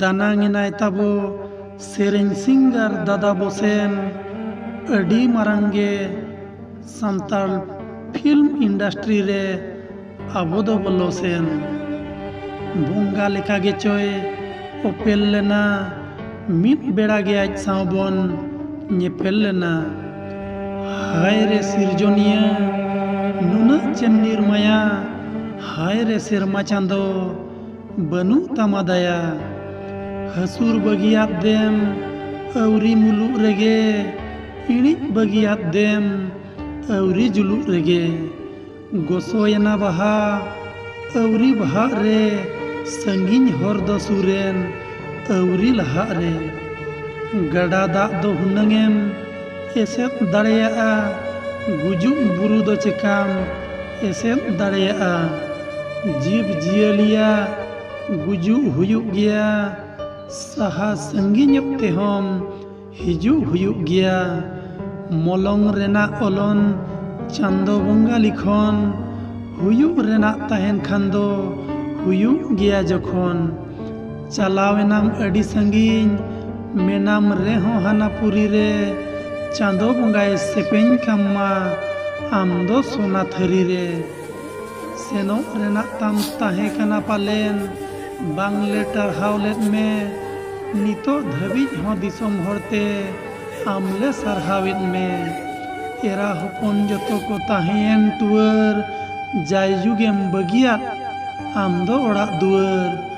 ᱫᱟᱱᱟᱝ ᱮᱱᱟᱭ ᱛᱟᱵᱚ ᱥᱮᱨᱮᱧ ᱥᱤᱝᱜᱟᱨ ᱫᱟᱫᱟ ᱵᱚᱥᱮᱱ ᱟᱹᱰᱤ ᱢᱟᱨᱟᱝ ᱜᱮ ᱥᱟᱱᱛᱟᱲ ᱯᱷᱤᱞᱢ ᱤᱱᱰᱟᱥᱴᱨᱤ ᱨᱮ ᱟᱵᱚ ᱫᱚ ᱵᱚᱞᱚ ᱥᱮᱱ ᱵᱚᱸᱜᱟ ᱞᱮᱠᱟ ᱜᱮᱪᱚᱭ ᱚᱯᱮᱞ ᱞᱮᱱᱟ ᱢᱤᱫ ᱵᱮᱲᱟ ᱜᱮ ᱟᱡ ᱥᱟᱶ ᱵᱚᱱ ᱧᱮᱯᱮᱞ ᱞᱮᱱᱟ ᱦᱟᱭ ᱨᱮ ᱥᱤᱨᱡᱚᱱᱤᱭᱟᱹ ᱱᱩᱱᱟᱹᱜ ᱪᱮᱢ ᱱᱤᱨᱢᱟᱭᱟ ᱦᱟᱭ ᱨᱮ ᱥᱮᱨᱢᱟ ᱪᱟᱸᱫᱚ ᱵᱟᱹᱱᱩᱜ ᱛᱟᱢᱟ ᱫᱟᱭᱟ ᱦᱟᱹᱥᱩᱨ ᱵᱟᱹᱜᱤᱭᱟᱫ ᱫᱮᱢ ᱟᱹᱣᱨᱤ ᱢᱩᱞᱩᱜ ᱨᱮᱜᱮ ᱤᱬᱤᱡ ᱵᱟᱹᱜᱤᱭᱟᱫ ᱫᱮᱢ ᱟᱹᱣᱨᱤ ᱡᱩᱞᱩᱜ ᱨᱮᱜᱮ ᱜᱚᱥᱚᱭᱮᱱᱟ ᱵᱟᱦᱟ ᱟᱹᱣᱨᱤ ᱵᱟᱦᱟᱜ ᱨᱮ ᱥᱟᱺᱜᱤᱧ ᱦᱚᱨ ᱫᱚ ᱥᱩᱨᱮᱱ ᱟᱹᱣᱨᱤ ᱞᱟᱦᱟᱜ ᱨᱮ ᱜᱟᱰᱟ ᱫᱟᱜ ᱫᱚ ᱦᱩᱱᱟᱹᱝᱮᱢ ᱮᱥᱮᱫ ᱫᱟᱲᱮᱭᱟᱜᱼᱟ ᱜᱩᱡᱩᱜ ᱵᱩᱨᱩ ᱫᱚ ᱪᱮᱠᱟᱢ ᱮᱥᱮᱫ ᱫᱟᱲᱮᱭᱟᱜᱼᱟ ᱡᱤᱵᱽ ᱡᱤᱭᱟᱹᱞᱤᱭᱟᱜ ᱜᱩᱡᱩᱜ ᱦᱩᱭᱩᱜ ᱜᱮᱭᱟ ᱥᱟᱦᱟ ᱥᱟᱺᱜᱤᱧᱚᱜ ᱛᱮᱦᱚᱸ ᱦᱤᱡᱩᱜ ᱦᱩᱭᱩᱜ ᱜᱮᱭᱟ ᱢᱚᱞᱚᱝ ᱨᱮᱱᱟᱜ ᱚᱞᱚᱱ ᱪᱟᱸᱫᱚ ᱵᱚᱸᱜᱟ ᱞᱤᱠᱷᱚᱱ ᱦᱩᱭᱩᱜ ᱨᱮᱱᱟᱜ ᱛᱟᱦᱮᱱ ᱠᱷᱟᱱ ᱫᱚ ᱦᱩᱭᱩᱜ ᱜᱮᱭᱟ ᱡᱚᱠᱷᱚᱱ ᱪᱟᱞᱟᱣ ᱮᱱᱟᱢ ᱟᱹᱰᱤ ᱥᱟᱺᱜᱤᱧ ᱢᱮᱱᱟᱢ ᱨᱮᱦᱚᱸ ᱦᱟᱱᱟ ᱯᱩᱨᱤ ᱨᱮ ᱪᱟᱸᱫᱚ ᱵᱚᱸᱜᱟᱭ ᱥᱮᱯᱮᱧ ᱠᱟᱢ ᱢᱟ ᱟᱢ ᱫᱚ ᱥᱚᱱᱟ ᱛᱷᱟᱹᱨᱤ ᱨᱮ ᱥᱮᱱᱚᱜ ᱨᱮᱱᱟᱜ ᱛᱟᱢ ᱛᱟᱦᱮᱸ ᱠᱟᱱᱟ ᱯᱟᱞᱮᱱ ᱵᱟᱝ ᱞᱮ ᱴᱟᱨᱦᱟᱣ ᱞᱮᱫ ᱢᱮ ᱱᱤᱛᱚᱜ ᱫᱷᱟᱹᱵᱤᱡ ᱦᱚᱸ ᱫᱤᱥᱚᱢ ᱦᱚᱲᱛᱮ ᱟᱢ ᱞᱮ ᱥᱟᱨᱦᱟᱣᱮᱫ ᱢᱮ ᱮᱨᱟ ᱦᱚᱯᱚᱱ ᱡᱚᱛᱚ ᱠᱚ ᱛᱟᱦᱮᱸᱭᱮᱱ ᱴᱩᱣᱟᱹᱨ ᱡᱟᱭᱡᱩᱜᱮᱢ ᱵᱟᱹᱜᱤᱭᱟᱫ ᱟᱢ ᱫᱚ ᱚᱲᱟᱜ ᱫᱩᱣᱟᱹᱨ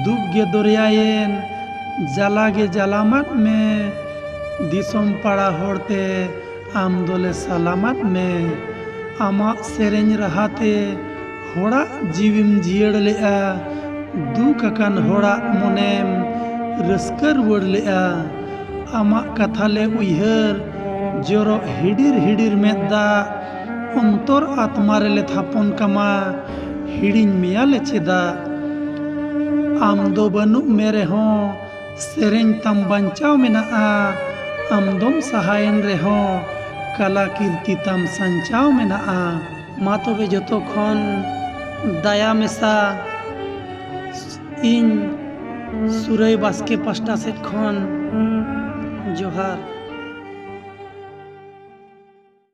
ᱫᱩᱠ ᱜᱮ ᱫᱚᱨᱭᱟᱭᱮᱱ ᱡᱟᱞᱟ ᱜᱮ ᱡᱟᱞᱟᱢᱟᱫ ᱢᱮ ᱫᱤᱥᱚᱢ ᱯᱟᱲᱟ ᱦᱚᱲᱛᱮ ᱟᱢ ᱫᱚᱞᱮ ᱥᱟᱞᱟᱢᱟᱫ ᱢᱮ ᱟᱢᱟᱜ ᱥᱮᱨᱮᱧ ᱨᱟᱦᱟᱛᱮ ᱦᱚᱲᱟᱜ ᱡᱤᱣᱤᱢ ᱡᱤᱭᱟᱹᱲ ᱞᱮᱜᱼᱟ ᱫᱩᱠ ᱟᱠᱟᱱ ᱦᱚᱲᱟᱜ ᱢᱚᱱᱮᱢ ᱨᱟᱹᱥᱠᱟᱹ ᱨᱩᱣᱟᱹᱲ ᱞᱮᱜᱼᱟ ᱟᱢᱟᱜ ᱠᱟᱛᱷᱟ ᱞᱮ ᱩᱭᱦᱟᱹᱨ ᱡᱚᱨᱚᱜ ᱦᱤᱰᱤᱨ ᱦᱤᱰᱤᱨ ᱢᱮᱫ ᱫᱟᱜ ᱚᱱᱛᱚᱨ ᱟᱛᱢᱟ ᱨᱮᱞᱮ ᱛᱷᱟᱯᱚᱱ ᱠᱟᱢᱟ ᱦᱤᱲᱤᱧ ᱢᱮᱭᱟᱞᱮ ᱪᱮᱫᱟᱜ ᱟᱢ ᱫᱚ ᱵᱟᱹᱱᱩᱜ ᱢᱮ ᱨᱮᱦᱚᱸ ᱥᱮᱨᱮᱧ ᱛᱟᱢ ᱵᱟᱧᱪᱟᱣ ᱢᱮᱱᱟᱜᱼᱟ ᱟᱢ ᱫᱚᱢ ᱥᱟᱦᱟᱭᱮᱱ ᱨᱮᱦᱚᱸ ᱠᱟᱞᱟ ᱠᱤᱨᱛᱤ ᱛᱟᱢ ᱥᱟᱧᱪᱟᱣ ᱢᱮᱱᱟᱜᱼᱟ ᱢᱟ ᱛᱚᱵᱮ ᱡᱚᱛᱚ ᱠᱷᱚᱱ ᱫᱟᱭᱟ ᱢᱮᱥᱟ ᱤᱧ ᱥᱩᱨᱟᱹᱭ ᱵᱟᱥᱠᱮ ᱯᱟᱥᱴᱟ ᱥᱮᱫ ᱠᱷᱚᱱ ᱡᱚᱦᱟᱨ